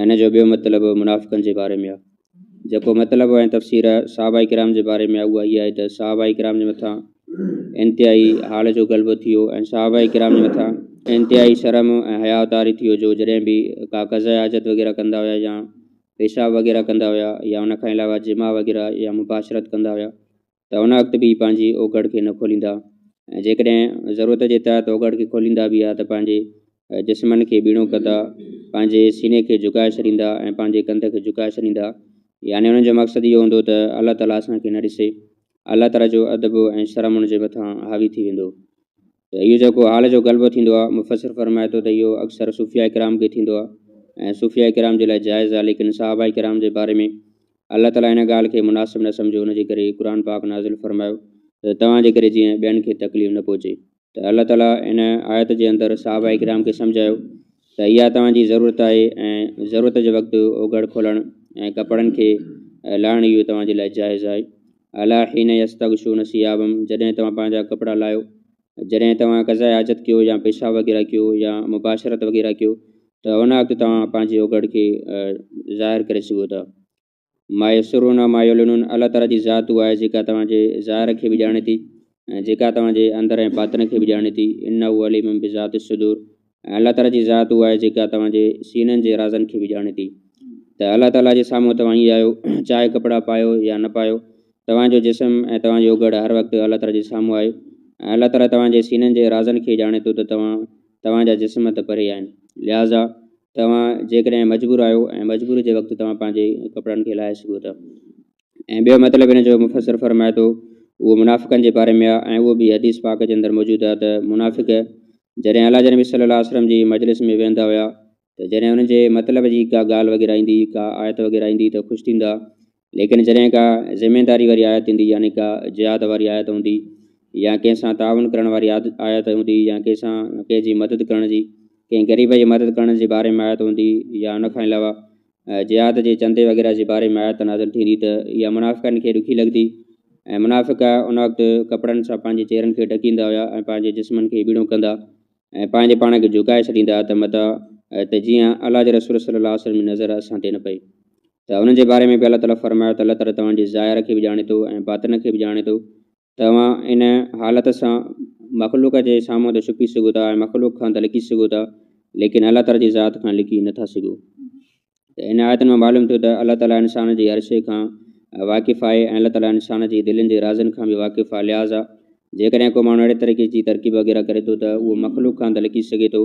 ۽ ان جو ٻيو مطلب منافقن جي باري ۾ آهي. جيڪو مطلب ۽ تفسير صحابه ڪرام جي باري ۾ آهي اها هيء آهي ته صحابه ڪرام جي مٿان انتهائي حال جو غلبو ٿي ويو ۽ صحابه ڪرام جي مٿان انتهائي شرم ۽ حياء طاري ٿي ويو جو جڏهن به ڪا قضاء حاجت وغيره ڪندا هيا يا پيشاب وغيره ڪندا هيا يا ان کان علاوه جماع وغيره يا مباشرت ڪندا هيا ته ان وقت به پنهنجي اوگهڙ کي نه کوليندا ۽ جيڪڏهن ضرورت جي تحت اوگهڙ کي کوليندا به ها ته پنهنجي جسمن کي ٻيڻو ڪندا، پنهنجي سيني کي جهڪائي ڇڏيندا ۽ پنهنجي ڪنڌ کي جهڪائي ڇڏيندا، يعني انهن جو مقصد اهو هوندو ته الله تعاليٰ اسان کي نه ڏسي، الله تعاليٰ جو ادب ۽ شرم ان جي مٿان حاوي ٿي ويندو. ته اهو جيڪو حال جو غلبو ٿيندو آهي، مفسر فرمائي ٿو ته اهو اڪثر صوفياء ڪرام کي ٿيندو آهي ۽ صوفياء ڪرام جي لاء جائز آهي ليڪن صحابه ڪرام جي باري ۾ الله تعاليٰ ان ڳالهه کي مناسب نه سمجهيو ان جي ڪري قرآن پاڪ نازل فرمايو ته توهان جي ڪري جيئن ٻين کي تڪليف نه پهچي ته الله تعاليٰ ان آيت جي اندر صحابه ڪرام کي سمجهايو ته اها توهان جي ضرورت آهي ۽ ضرورت جي وقت اوگهڙ کولڻ ۽ ڪپڙن کي لاهڻ اهو توهان جي لاء جائز آهي الا حين يستغشون ثيابهم جڏهن توهان پنهنجا ڪپڙا لاهيو جڏهن توهان قضاء حاجت ڪيو يا پيشاب وغيره ڪيو يا مباشرت وغيره ڪيو ته ان وقت توهان پنهنجي اوگهڙ کي ظاهر ڪري سگهو ٿا ما يسرون ۽ ما يعلنون الله تعالي جي ذات اها آهي جيڪا توهان جي ظاهر کي به ڄاڻي ٿي ۽ جيڪا توهان جي اندر ۽ باطن کي به ڄاڻي ٿي انه عليم بذات الصدور ۽ الله تعاليٰ جي ذات اها آهي جيڪا توهان جي سينن جي رازن کي به ڄاڻي ٿي ته الله تعاليٰ جي سامهون توهان ائين آهيو چاهي ڪپڙا پايو يا نه پايو توهان جو جسم ۽ توهان جي اوگهڙ هر وقت الله تعاليٰ جي سامهون آهي ۽ الله تعاليٰ توهان جي سينن جي رازن کي ڄاڻي ٿو ته توهان توهان جا جسم ته پري آهن لهٰذا توهان جيڪڏهن مجبور آهيو ۽ مجبوري جي وقت توهان پنهنجي ڪپڙن کي لاهي سگهو ٿا ۽ ٻيو مطلب هن جو مفسر فرمائي ٿو، اهو منافقن جي باري ۾ آهي ۽ اهو به حديث پاڪ جي اندر موجود آهي ته منافق جڏهن الله جي نبي صلي الله عليه وسلم جي مجلس ۾ ويهندا هيا ته جڏهن انهن جي مطلب جي ڪا ڳالهه وغيره ايندي، ڪا آيت وغيره ايندي ته خوش ٿيندا، ليڪن جڏهن ڪا ذميداري واري آيت ايندي يعني ڪا جهاد واري آيت هوندي يا ڪنهن سان تعاون ڪرڻ واري آيت هوندي يا ڪنهن سان ڪنهن جي مدد ڪرڻ جي، ڪنهن غريب جي مدد ڪرڻ جي باري ۾ آيت هوندي يا ان کان علاوه جهاد جي چندي وغيره جي باري ۾ آيت نازل ٿيندي ته اها منافقن کي ڏکي لڳندي ۽ منافق ان وقت ڪپڙن سان پنهنجي چهرن کي ڍڪيندا هيا ۽ پنهنجي جسمن کي ٻيڻو ڪندا ۽ پنهنجي پاڻ کي جهڪائي ڇڏيندا ته متان ته جيئن الله جي رسول صلي الله عليه وسلم جي نظر اسان تي نه پئي ته انهن جي باري ۾ به الله تعالي فرمايو ته الله تعالي توهان جي ظاهر کي به ڄاڻي ٿو ۽ باطن کي به ڄاڻي ٿو توهان ان حالت سان مخلوق جي سامهون ته ڇپي سگهو ٿا ۽ مخلوق کان ته لڪي سگهو ٿا ليڪن الله تعالي جي ذات کان لڪي نه ٿا سگهو ته ان آيتن مان معلوم ٿيو ته الله تعالي انسان جي هر شيء کان واقف آهي ۽ الله تعالي انسان جي دلين جي رازن کان به واقف آهي لهٰذا جيڪڏهن ڪو ماڻهو اهڙي طريقي جي ترڪيب وغيره ڪري ٿو ته اهو مخلوق کان ته لڪي سگهي ٿو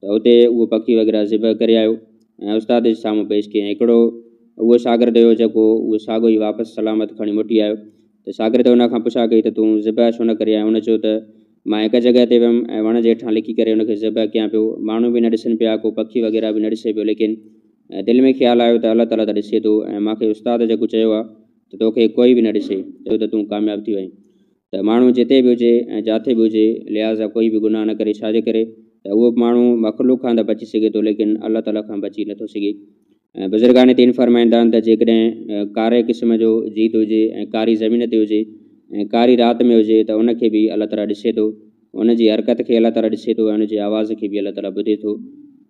ته اتي اهو پکي وغيره ذبح ڪري آيو ۽ استاد جي سامهون پيش ڪيائين. هڪڙو اهو شاگرد هيو جيڪو اهو ساڳو ئي واپس سلامت کڻي موٽي آيو ته شاگرد ان کان پڇا ڪئي ته تون ذبح ڇو نه ڪري آيو؟ هن چيو ته مان هڪ جڳهه تي ويم ۽ وڻ جي هيٺان لڪي ڪري ان کي ذبح ڪيان پيو. ماڻهو به نه ڏسن پيا، ڪو پکي وغيره به نه ڏسي پيو ليڪن دل ۾ خيال آيو ته الله تعاليٰ ته ڏسي ٿو ۽ مان کي استاد جيڪو چيو آهي ته توکي ڪوئي به نه ڏسي ته تون ڪامياب ٿي وئين ته ماڻهو جتي به هجي ۽ جاٿي به هجي لهٰذا ڪوئي به گناهه نه ڪري ڇا جي ڪري ته اهو ماڻهو مخلوق کان ته بچي سگهي ٿو ليڪن الله تعاليٰ کان بچي نه ٿو سگهي ۽ بزرگان دين فرمائيندا آهن ته جيڪڏهن ڪاري قسم جو جيت هجي ۽ ڪاري زمين تي هجي ۽ ڪاري رات ۾ هجي ته ان کي به الله تعاليٰ ڏسي ٿو ان جي حرڪت کي الله تعاليٰ ڏسي ٿو ۽ ان جي آواز کي به الله تعاليٰ ٻڌي ٿو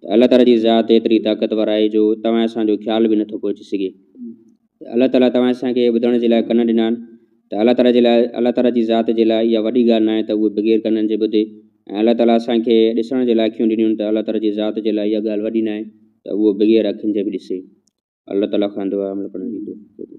ته الله تعاليٰ جي ذات ايتري طاقتور آهي جو توهان اسان جو خيال به نه ٿو پهچي سگهي ته الله تعاليٰ توهان اسان کي ٻڌڻ جي لاء ڪن ڏنا آهن ته الله تعاليٰ جي لاء الله تعاليٰ جي ذات جي لاء اها وڏي ڳالهه ناهي ته هو بغير ڪنن جي ٻڌي ۽ الله تعاليٰ اسان کي ڏسڻ جي لاء اکيون ڏنيون ته الله تعاليٰ جي ذات جي لاء اها ڳالهه وڏي ناهي ته هو بغير اکين جي به ڏسي الله تعاليٰ کان دعا عمل ڪرڻ جي توفيق ڏي.